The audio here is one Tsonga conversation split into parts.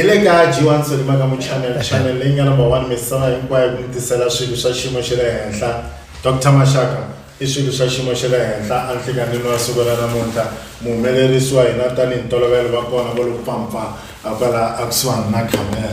hi le ka g1 solima ka muchannel channel leyi nga number one misava hinkwayo ku mi tisela swilo swa xiyimo xa le henhla dr maxaka i swilo swa xiyimo xa le henhla a nhlikanini wa siku ra namuntlha muhumelerisi wa hina tanihi ntolovelo va kona va lo pampfa a kwala a kusuhani na camera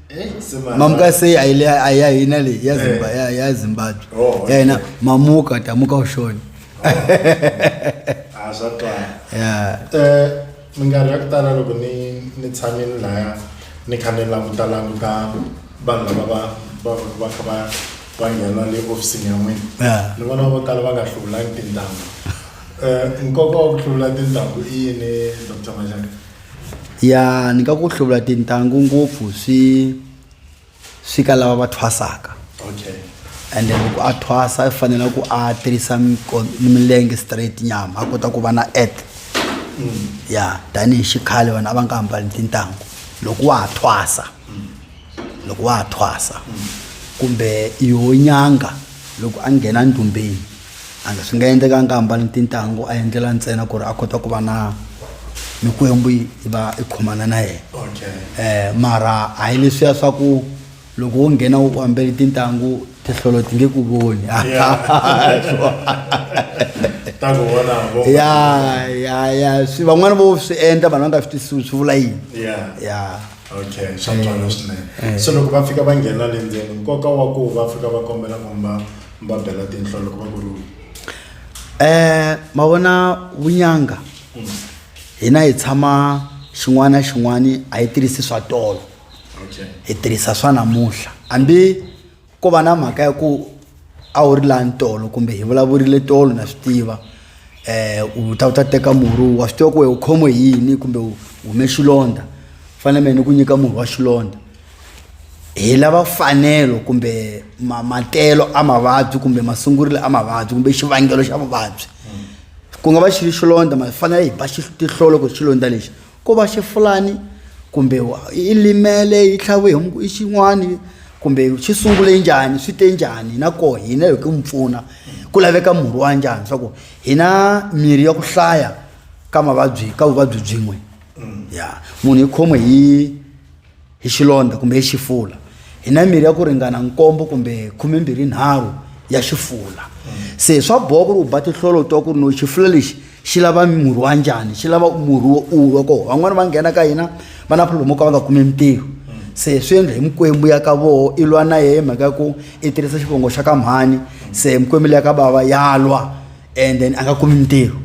mamuka sei aina le yazimbabwe eh. oh, yaina mamuka tamuka ushoni minkarhi ya ku tala loko ni ni tshame ni laya ni kha ni languta languta vanhu lava va va va kha va va nghena le ofisini ya n'wina ni vona vo tala va nga hluvulangi tintanghu um nkoka wa ku hluvula tintanghu i yini dr majaka ya ni nga ku hluvula tintangu ngopfu swi swi ka lava va thwasaka okay and then loko a thwasa i fanele ku a tirhisa miko- ni milenge straight nyama a kota ku va na earth ya tanihi xikhale vanhu a va nga hambali tintangu loko wa ha thwasa loko wa ha thwasa kumbe yoho nyanga loko a nghena ndumbeni and swi nga endleka a nga hambani tintangu a endlela ntsena ku ri a kota ku va na mikwembu yi va i khomana na yena um mara a hi leswiya swa ku loko wo nghena u ambele tintangu tihlolo ti nge ku voni ya ya ya swi van'wana vo swi endla vanhu va nga swi twisisiwi swi vula yini ya okay swa ntswalo swinene eh. so loko va fika va nghena le ndzeni nkoka wa ku va fika va kombela ku mba mi va bela tinhla loko va ku ri um ma vona vunyanga hina hi tshama xin'wana na xin'wana a yi tirhisi swa tolo okay hi tirhisa swa namuntlha hambi ko va na mhaka ya ku a wu ri lani tolo kumbe hi vulavurile tolo na swi tiva um u ta u ta teka murhi wa swi tiva ku we u khomiwe hi yini kumbe u hume xilondza fanele mehe ni ku nyika murhi wa xilondza hi lava fanelo kumbe mamatelo a mavabyi kumbe masungurilo a mavabyi kumbe xivangelo xa vuvabyi ku nga va xi ri xilondza ma fanele hi ba tihlolo ku xilondza lexi ko va xi fulani kumbe i limele yi tlhaviwe hi i xin'wani kumbe xi sungule njhani swi te njhani na koho hina hi ku mi pfuna ku laveka murhi wa njhani swa ku hi na mirhi ya ku hlaya ka mavabyi ka vuvabyi byin'we ya munhu yi khomiwe hi hi xilondza kumbe hi xifula hi na mirhi ya ku ringana nkombo kumbe khumembirhi nharhu ya xifula se swa boha ku ri u ba tihlolo twa ku ri no xifula lexi xi lava murhi wa njhani xi lava murhi wo ulwa koho van'wani va nghena ka hina va na problem ka va nga kumi mintirho se swi endla hi mikwembu ya ka voho i lwa na yehe mhaka ya ku i tirhisa xivongo xa ka mhani se mikwembu leya ka bava ya lwa and then a nga kumi mintirho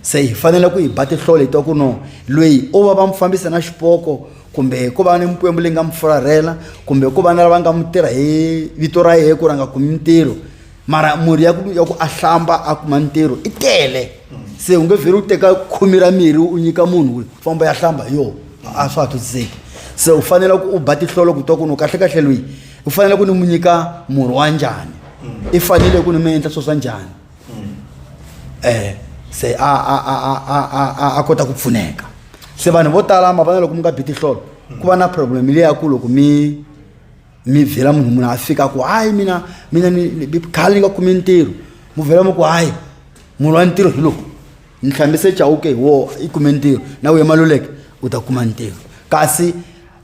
se hi fanele ku hi ba tihlolo hi twa ku no loyi o va va mu fambisa na xipoko kumbe ku va ni mikwembu leyi nga mi fularhela kumbe ku va na lava nga mi tirha hi vito ra yehe ku ri a nga kumi mintirho mara murhi ya ku ya ku a hlamba a kuma ntirho i tele se u nge vheli u teka khumi ra mirhi u nyika munhu ku famba ya hlamba hi yoho a swa ha twisiseki se u fanele ku u ba tihlolo ku twa ku ni kahlekahle loyi u fanele ku ni mu nyika murhi wa njhani i fanele ku ni mi endla swo swa njhani mm. eh se a a a a a a kota ku pfuneka se vanhu vo tala mavana loko mi nga bi tihlolo ku va na problem leyi ya ku loko mi mi byela munhu munhu a fika ku hayi mina mina khale ni nga kumi ntirho mu byela mi ku hayi munhu wa ntirho hi loko ni hlambise chawuke hi wo i kume ntirho na wuye maluleke u ta kuma ntirho kasi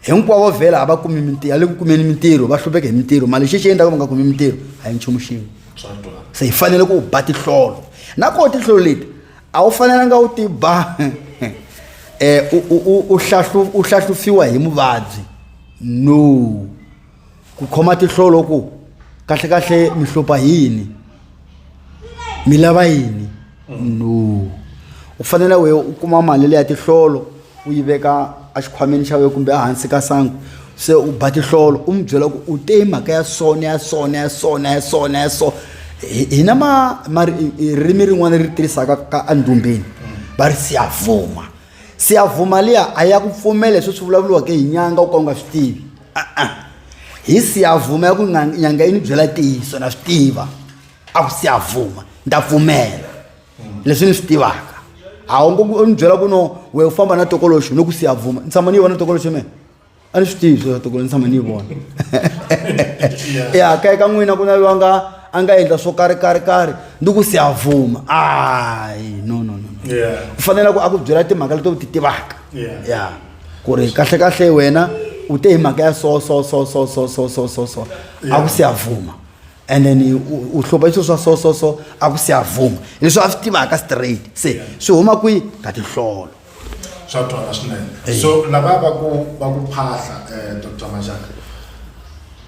hinkwavo vhela a va kumi mintirho a le ku kumeni mintirho va hlupheka hi mintirho mali xexi endlaka va nga kumi mintirho a hi nchumu xin'we se hi fanele ku ba tihlolo na koho tihlolo leti a wu fanelanga u ti ba um u hlahlufiwa hi muvabyi no ku khoma tihlolo ku kahlekahle mi hlupha hi yini mi lava yini no u fanele we u kuma mali leya tihlolo u yi veka exikhwameni xa wena kumbe ehansi ka sangu se u ba tihlolo u n'wi byela ku u te hi mhaka ya sona ya sona ya sona ya sona ya sona hina ma ma ririmi rin'wana ri tirhisaka ka endumbeni va ri siyavuma siyavuma liya a ya ku pfumela leswi swi vulavuriwaka hi nyanga u ka u nga swi tivi a-a hi siyavuma ya ku nyanga yi ni byela ntiyiso na swi tiva a ku siyavuma ni ta pfumela leswi ni swi tivaka a wu ngo ni byela ku no we u famba na tokoloxo ni ku siyavuma ni tshama ni yi vona tokoloxo mina a ni swi tivi swo toko ni tshama ni yi vona ya kaye ka n'wina ku na loyi a nga a nga endla swo karhi karhi karhi ni ku se a vuma ayi no no no no. Yeah. u fanele ku a ku byela timhaka leti u ti tivaka Yeah. ya ku ri kahle kahle wena u te hi mhaka ya so so so so so so so so so a ku se a vuma and then u- u hlomba swilo swa so so so a ku se a vuma leswi a swi tivaka straight se swi huma kwihi ka tinhlolo swa twala swinene so lava va ku va ku phahla um eh, dr majaka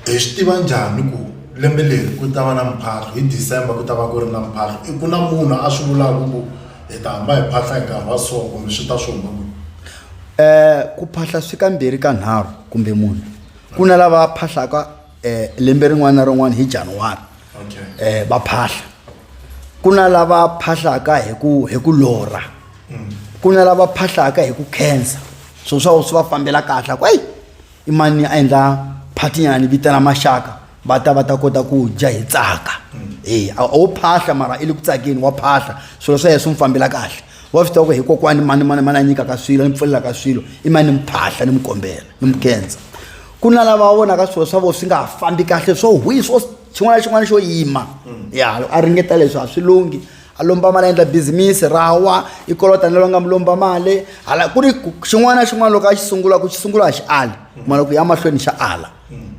hi swi tiva njhani ku lembe leri ku ta va na mphahlo hi december ku ta va ku ri na mphahlo i ku na munhu a swi vulaka ku hi ta hamba hi phahla hi nkarhi wa so kumbe swi ta swi huma ku um ku phahla swi ka mbirhi ka nharhu kumbe munhu ku na lava phahlaka eh, lembe rin'wana na rin'wana hi januwari okay. eh, va phahla ku na lava phahlaka hi ku hi ku lorha mm. ku na lava phahlaka hi ku khensa swilo swa swi va fambela kahle ku eyi i mani a endla phatinyana vitana maxaka va ta va ta kota ku dya hi tsaka e a wo phahla mara i le ku tsakeni wa phahla swilo swa yena swi n'wi fambela kahle wa swi tiva ku hi kokwani mani mani mani a nyikaka swilo ni pfulelaka swilo i mani ni mi phahla ni mi kombela ni mi kendza ku na lava va vonaka swilo swa vona swi nga ha fambi kahle swo hwi swo xin'wana na xin'wana xo yima mm. ya a ringeta leswi a swi lunghi a lomba mali a endla bizimisi ra wa i kolota ni lava nga mi lomba mali hala ku ri xin'wana na xin'wana loko a xi sungula ku xi sungula a xi ali mm. mara ku ya mahlweni xa ala mm.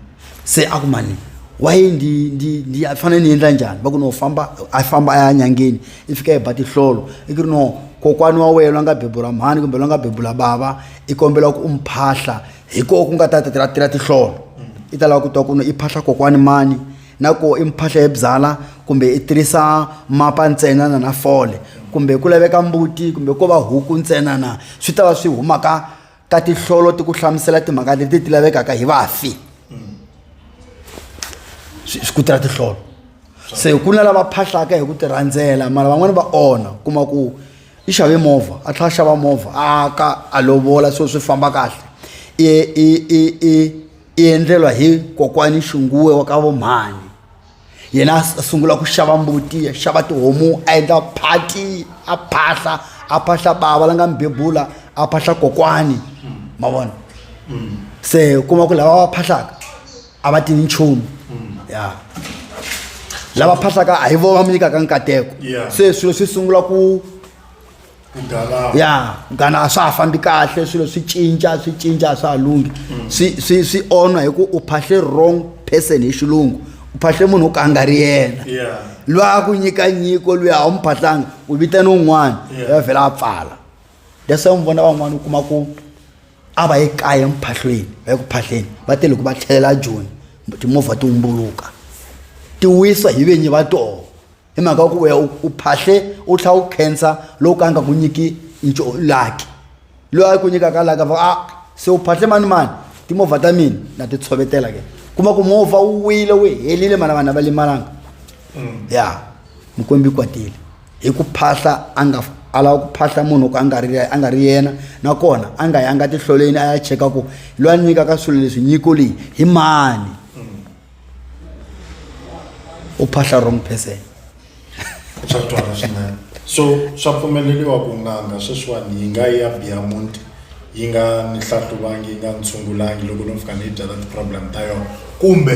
se a ku mani waye ndi ndi ndi a fanele ni endla njhani va ku no famba a famba a ya nyangeni i fika i ba tihlolo i ku ri no kokwani wa wena loyi a nga bebula mhani kumbe loyi a nga bebula bava i kombela ku u mi phahla hi koho ku nga ta ta tira tihlolo i ta lava ku twa ku i phahla kokwani mani na ko i mphahla ebyala kumbe i tirhisa mapa ntsena na na fole kumbe ku laveka mbuti kumbe ko va huku ntsena na swi ta va swi humaka ka tihlolo ti ku hlamusela timhaka leti ti lavekaka hi vafi swi ku tira tihlolo se ku na lava phahlaka hi ku ti rhandzela mara van'wani va onha kuma ku i xave movha a tlhela a xava movha a ka a lovola so swi famba kahle i i i i i endlelwa hi kokwani xinguwe wa ka vomhani yena a sungula ku xava mbuti a xava tihomu a endla phati a phahla a phahla bava la nga mi bebula a phahla kokwani ma vona se u kuma ku lava va phahlaka a va tivi nchumu mm. ya lava phahlaka a hi vona va mi nyikaka nkateko se swilo swi sungula ku ya gana a swa ha fambi kahle swilo swi cinca swi cinca a swa ha lunghi mm. swi swi swi onha hi ku u phahle wrong person hi xilungu u phahle munhu wo ka a nga ri yena loyi a ku nyika nyiko loyi a wu mi phahlanga u vitane un'wana ya vhela a pfala that's why mi vona van'wana u kuma ku a va ye kaya muphahlweni va ye ku phahleni va te loko va tlhelela joni timovha ti wumbuluka ti wisa hi vinyi va toho hi mhaka ya ku weya u phahle u tlhela u khensa lowu ka nga ku nyiki laki loyi a ku nyikaka laki a va a se u phahle mani mani timovha ta mina na ti tshovetela ke kuma ku movha wu wile wu helile mana vanhu a va limalanga mm. ya yeah. mukwembi kwatile hi ku phahla a nga a lava ku phahla munhu ku a nga ri a nga ri yena nakona a nga yanga tihloleni a ya cheka ku loyi a nyikaka swilo leswi nyiko leyi hi mani u phahla wrong person swa twala swinene so swa pfumeleriwa ku n'anga sweswiwani yi nga ya biyamuti yi nga ni hlahluvangi yi nga ni tshungulangi loko no fika ni yi byala ti-problem ta yona kumbe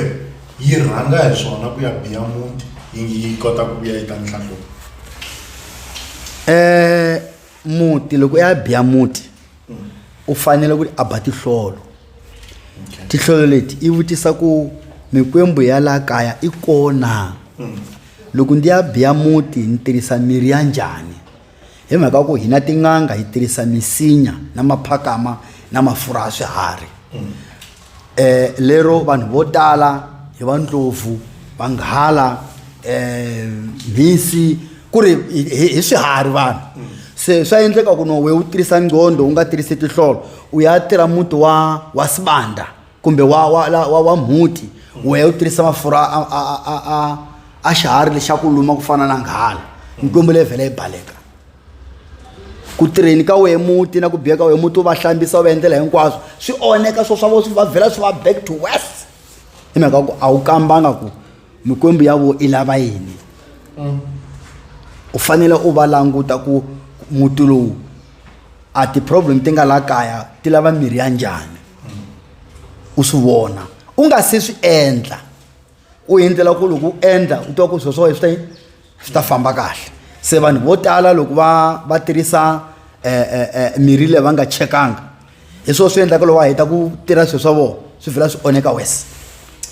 yi rhanga hi swona ku ya biya muti yi yi kota ku vuya yi ta ni hlahluva eh muti loko ya biya muti u fanele ku a ba tihlolo tihlolo leti i vutisa ku mikwembu ya la kaya i kona loko ndi ya biya muti ni tirhisa mirhi ya njhani Hi mhaka ya ku hina tin'anga hi tirhisa misinya na maphakama na mafurha ya swiharhi um lero vanhu vo tala hi va ndlopfu vanghala um mhisi ku ri hi swiharhi vanhu se swa endleka ku no we u tirhisa nqondo u nga tirhisi tihlolo u ya tirha muti wa wa sibanda kumbe wa wa la wa wa mhuti wehe u tirhisa mafurha a a a a a a xiharhi lexa ku luma ku fana na nghala nkwembu leyi vhela yi baleka ku tirheni ka wehe muti na ku biya ka wehe muti u va hlambisa u va endlela hinkwaswo swi onheka swo swa vo swi va vhela swi va back to west hi mhaka ku a wu kambanga ku mikwembu ya vo i lava yini mm. u fanele u va languta ku muti lowu a ti-problem ti nga la kaya ti lava mirhi ya njhani u swi vona u nga se swi endla u endlela ku loko u endla u twa ku swo swa wena swi ta yini swi ta famba kahle se vanhu vo tala loko va va tirhisa eh, eh, eh, mirhi leyi va nga chekanga hi swona swi endlaka loko va heta ku tirha swilo swa vona swi vhela swi onheka wes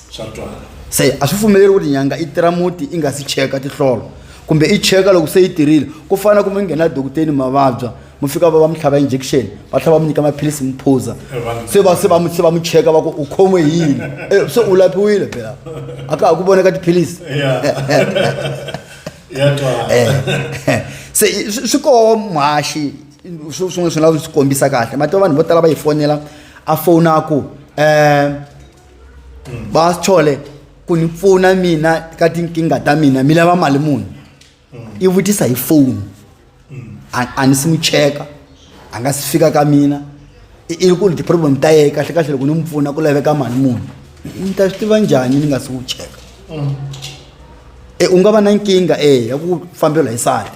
swa twala se a swi pfumeleri ku ri nyanga i tirha muti i nga si cheka tihlolo kumbe i cheka loko se yi tirhile ku fana kumbe nghena dokuteni mavabya mu fika va va mi tlhava injection va tlhava va mi nyika maphilisi mi phuza se va se va se va mi cheka va ku u khomiwe hi yini eh, se u lapiwile phela a ka ha ku voneka tiphilisi eh, se swi koho mhaxi swin'we swi lava swi kombisa kahle mati vanhu vo tala va yi fonela a fona ku um eh, hmm. va chole ku ni pfuna mina ka tinkingha ta mina mi lava mali muni i vutisa hi foni a a ni si n'wi cheka a nga si fika ka mina i i ku ri ti-problem ta yehe kahle kahle loko ni n'wi pfuna ku laveka mali muni ni ta swi tiva njhani ni nga si n'wi cheka e u nga va na nkingha e ya ku fambela hi sali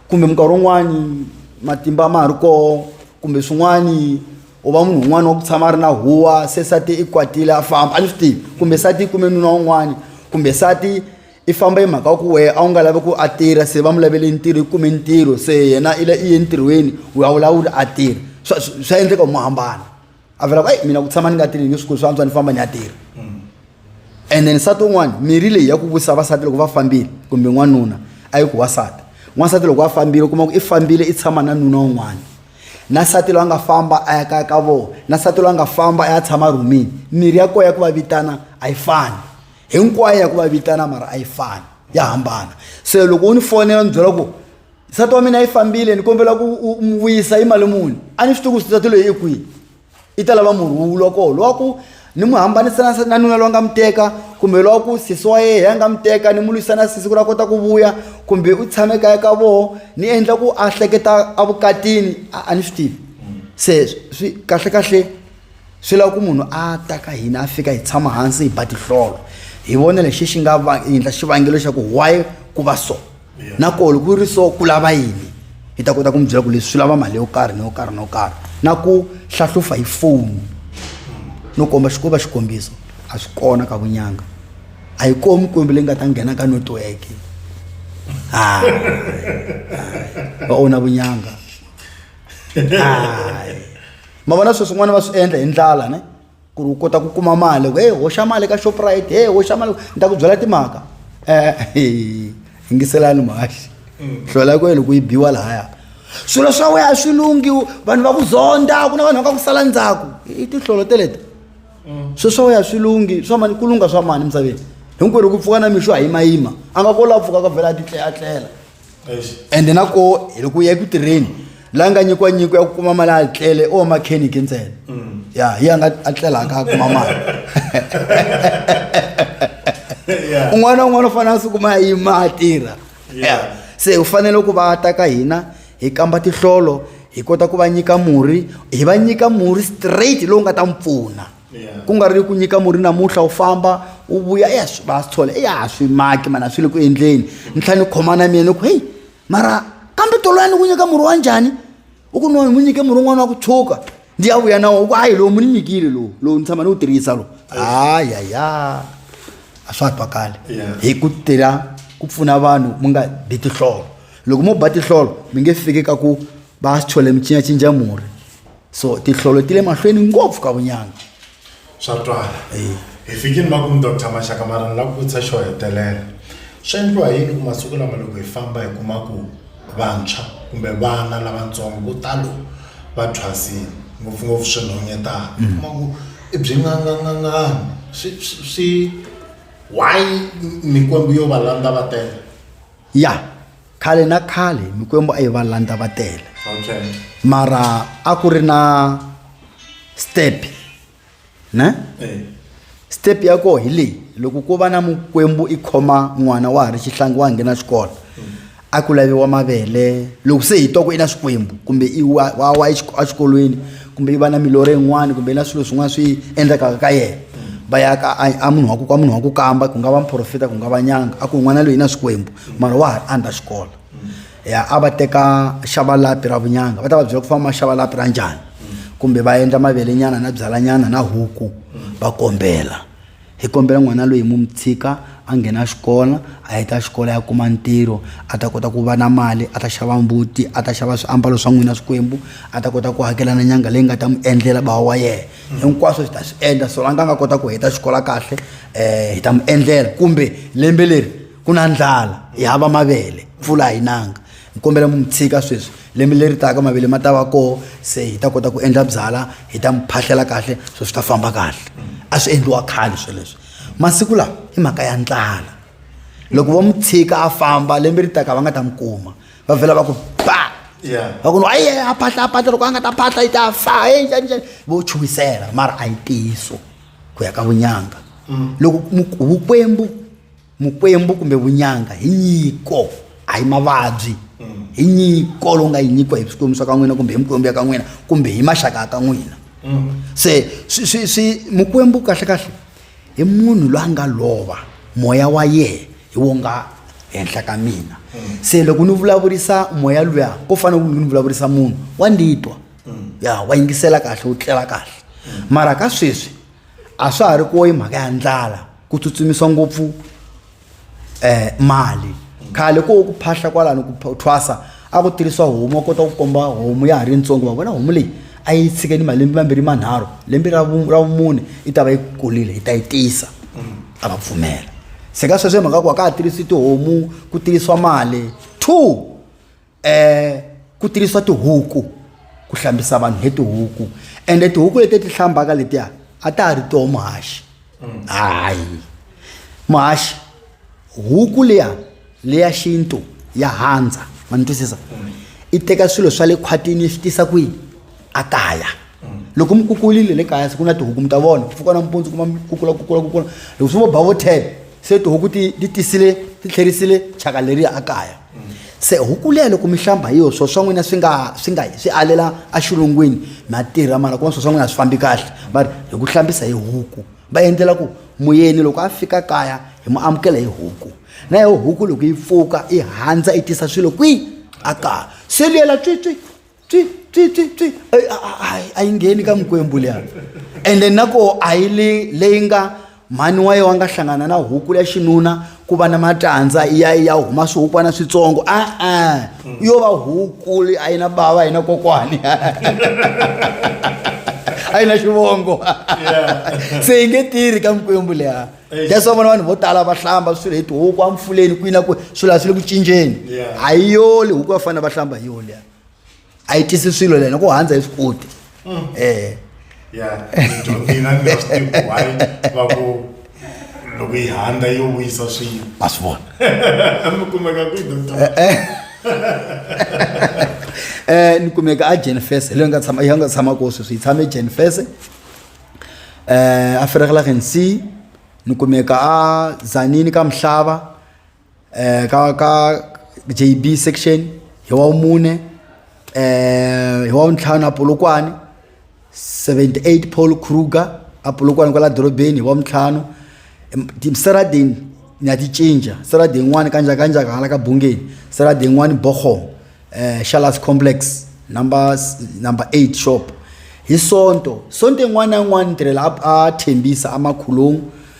kumbe minkarhi wun'wani matimba ma ha ri koho kumbe swin'wani u va munhu un'wana wa ku tshama a ri na huwa se sati i kwatile a famba a ni swi tivi kumbe sati i kume nuna wun'wani kumbe sati i famba hi mhaka ku wehe a wu nga lavi ku a tirha se va mu lavele ntirho i kume ntirho se yena i i ye ntirhweni u ya wulawula a tirha swa swa endleka mu hambana a vula ku eyi mina ku tshama ni nga tirhi nge swi kulu swa antswa ni famba ni ya tirha and then nsati un'wana mirhi leyi ya ku vutisa vasati loko va fambile kumbe n'wanuna a yi ku wasati n'wansati loko a fambile u kuma ku i fambile i tshama na nuna un'wana na nsati loyi a nga famba a ya kaya ka vona na nsati loyi a nga famba a ya tshama rhumini mirhi ya kona ya ku va vitana a yi fani hinkwayo ya ku va vitana mara a yi fani ya hambana se loko u ni fonela ni byela ku nsati wa mina yi fambile ni kombela ku u n'wi vuyisa yi mali muni a ni swi tivi ku nsati loyi i kwihi i ta lava murhi wu lwa koho lowa ku ni n'wi hambanisa na na nuna lowa nga n'wi teka kumbe lowa ku sesi wa yehe ya nga n'wi teka ni n'wi lwisa na sesi ku ri a kota ku vuya kumbe u tshame kaya ka voho ni endla ku a hleketa a vukatini a a ni swi tivi se swi kahlekahle swi lava ku munhu a ta ka hina a fika hi tshama hansi hi ba tihlolo hi vona lexi xi nga endla xivangelo xa ku why ku va so nakona ku ri so ku lava yini hi ta kota ku mi byela ku leswi swi lava mali yo karhi ni yo karhi no karhi na ku hlahlufa hi foni no komba xikoba xikombiso a swi kona ka vunyanga a yi komi kwembi leyi nga ta nghena ka netiweke hayi va ona vunyanga hayi ma vona sweswi n'wana va swi endla hi ndlala ne ku ri u kota ku kuma mali ku e hoxa mali ka shoprite e hoxa mali ni ta ku byela timhaka um yingiselani mhaxi hlola mm. ku yini ku yi biwa lahaya swilo swa wena swi lunghi vanhu va ku zonda ku na vanhu va ka ku sala ndzhaku i tinhlolo teleta mm. swilo swa wena swi lunghi swa mani ku lungha swa mani emisaveni hinkwerhu ku pfuka na mixo ha yimayima a nga kolaku pfuka ka vhela a titleatlela ende na ko hi loko u ya eku tirheni la nga nyikiwa nyiko ya ku kuma mali a tlele o makheniki ntsena mm. ya hi a nga a tlelaka a kuma mali un'wana un'wana u fanele a sukuma yi ma tirha se u fanele ku va ta ka hina hi kamba tihlolo hi kota ku va nyika murhi hi va nyika murhi straight lowu nga ta n'wi pfuna ku nga ri ku nyika murhi namuntlha u famba u vuya eya swi va swi tshola eya a swi maki mani a swi le ku endleni ntlha ni khoma na mina ni ku heyi mara kambe toloya ni ku nyika murhi wa njhani u ku no ni n'wi nyike murhi un'wana wa ku tshuka ndi ya vuya na wo u ku hayi lowu mi ni nyikile lowu lowu ni tshama ni wu tirhisa lowu hayaya a swa twakali hi ku tela ku pfuna vanhu mi nga bi tihlolo loko mo ba tihlolo mi nge fiki ka ku va swi tshole mi cincacinca murhi so tihlolo ti le mahlweni ngopfu ka vunyanga swa twala hi fikile makumu dr maxaka mara ni lava ku vutisa xo hetelela swi endliwa yini ku masiku lama loko hi famba hi kuma ku vantshwa kumbe vana lavatsongo vo talo va thwasile ngopfungopfu swinhonyetana mm. kuma ku i byi ngangangangani swi swi why mikwembu yo va landza va tele ya khale na khale mikwembu a yi va landza va tele mara a ku ri na step ne step ya koho hi leyi loko ko va na mukwembu i khoma n'wana wa ha ri xihlangi wa ha nghena xikolo a ku laviwa mavele loko se hi twa ku i na xikwembu kumbe i wa wa wa exik- exikolweni kumbe yi va na milorho yin'wana kumbe na swilo swin'wana swi endlekaka ka yena va ya ka a munhu wa ku ka munhu wa ku kamba ku nga va muprofita ku nga va nyanga a ku n'wana loyi na swikwembu mara wa ha ri under xikolo ya a va teka xava lapi ra vunyanga va ta va byela ku famba xava lapi ra njhani kumbe va endla mavelenyana na byalanyana na huku va kombela hi kombela n'wana loyi mu mi tshika a nghena xikolo a heta xikolo ya kuma ntirho a ta kota ku va na mali a ta xava mbuti a ta xava swiambalo swa n'wina swikwembu a ta kota ku hakela na nyanga leyi nga ta n'wi endlela bawa wa yena mm. hinkwaswo hi ta swi endla so la nga nga kota ku heta xikolo kahle um hi ta n'wi endlela kumbe lembe leri ku na ndlala hi hava mavele mpfula a yi nanga ni kombela mi mi tshika sweswi lembe leri taka mavele ma ta va koho se hi ta kota ku endla byala hi ta mi phahlela kahle swo swi ta famba kahle a swi endliwa khale sweleswo masiku lawa i mhaka ya ndlala loko vo mi tshika a famba lembe ri taka va nga ta mi kuma va vhela va ku ba va ku ayi a phahla a phahla loko a nga ta phahla yi ta fa e njhaninjhani vo chuhisela mara a yi ntiyiso ku ya ka vunyanga mm. loko vukwembu mukwembu kumbe vunyanga hi nyiko a hi mavabyi mm. hi nyiko lowu nga yi nyikiwa hi swikwembu swa ka n'wina kumbe hi mukwembu ya ka n'wina kumbe hi maxaka ya ka n'wina mm. se swi swi swi mukwembu kahlekahle hi munhu loyi a nga lova moya wa yehe hi wo nga henhla ka mina mm. se loko ni vulavurisa moya luya ko fana ku ni vulavurisa munhu wa nditwa ya wa yingisela kahle wu tlela kahle mara ka sweswi a swa ha ri koyi mhaka ya ndlala ku tsutsumisa ngopfu um mali khale ko ku phahla kwalano ku thwasa a ku tirhisa homu a kota ku komba homu ya ha ri ntsongo va vona homu leyi a yi tshikeni malembe mambirhi manharhu lembe ra ra vumune yi ta va yi kulile yi ta yi tisa mm. a va pfumela se ka sweswo hi mhaka ku a ka ha tirhisi tihomu ku tirhisiwa mali two um ku tirhisiwa tihuku ku hlambisa vanhu hi tihuku ende tihuku leti ti hlambaka letiya a ta ha ri toho muhaxi mm. hayi muhaxi huku liya leya xintu ya handza ma ni twisisa mm. i teka swilo swa le khwatini yi swi tisa kwini a kaya mm. loko mi kukulile le kaya siku na tihuku mi ta vona ku pfuka nampundzu kuma mi kukula kukula kukula loko swi vo bavotele se tihuku ti tisile ti tlherisile chaka leriya a kaya se huku leya loko mi hlamba hi yo swo swa n'wina swi nga swi nga swi alela exilungwini ma tirha mara kuma swo swa n'wina a swi fambi kahle va ri hi ku hlambisa hi huku va endlela ku muyeni loko a fika kaya hi mu amukela hi huku na yo huku loko yi pfuka yi handza yi tisa swilo kwihi a kaya se luyela tswitswi twi twi twi twi Ey, a- a- a- a yi ngheni ka mikwembu liya ende nako a yi li leyi nga mhani wa yena wa nga hlangana na huku ya xinuna ku va na matandza ya ya huma swihukwana switsongo a-a yo va huku leyi a yi na bava a yi na kokwani a yi na xivongo se yi nge tirhi ka mikwembu leya Eish. that's why vona vanhu vo tala va hlamba swilo hi tihuku amfuleni kwini na ku swilo a swi le ku cinjeni Yeah. a yi yoli huku va fanele va hlamba hi yona liya a yi tisi swilo lena ku handza hi swikuti mm. eh ya dyondzina ni swi tivi why va ku loko yi handza yo wisa swilo a swi vona mi kumeka ku doctor eh, eh. eh ni kumeka a Jennifer le nga tshama ya nga tshama ko sweswi yi tshame Jennifer eh a feregela gensi ni kumeka a zanini ka mhlaba eh, ka ka jb section hi wa vumune eh, hi wa vuntlhanu apolokwane 78 paul kruger apolokwane kwala dorobeni hi wa vuntlhanu seradeni ni ya ti cinca serade yin'wani kanjakanjaka hala ka bungeni serade yin'wani bohom um eh, shalas complex number number eight shop hi sonto sonto yin'wana na yin'wana ni tirhela a thembisa amakhulungu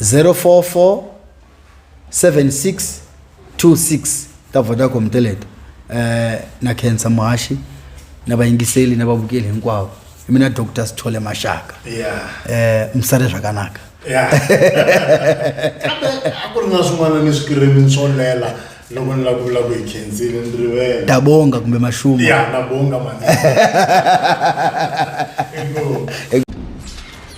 044 7626 ta vodacom teleto eh na khensa muhaxi na vayingiseli na vavukeli hinkwavo i mina dr sithole maxaka Yeah. eh misale swakanaka Yeah. Kambe a ku ri na swin'wana ni swikirini swo lela loko ni la ku vula ku hi khensile ni rivele ta bonga kumbe maxuma ya na bonga mani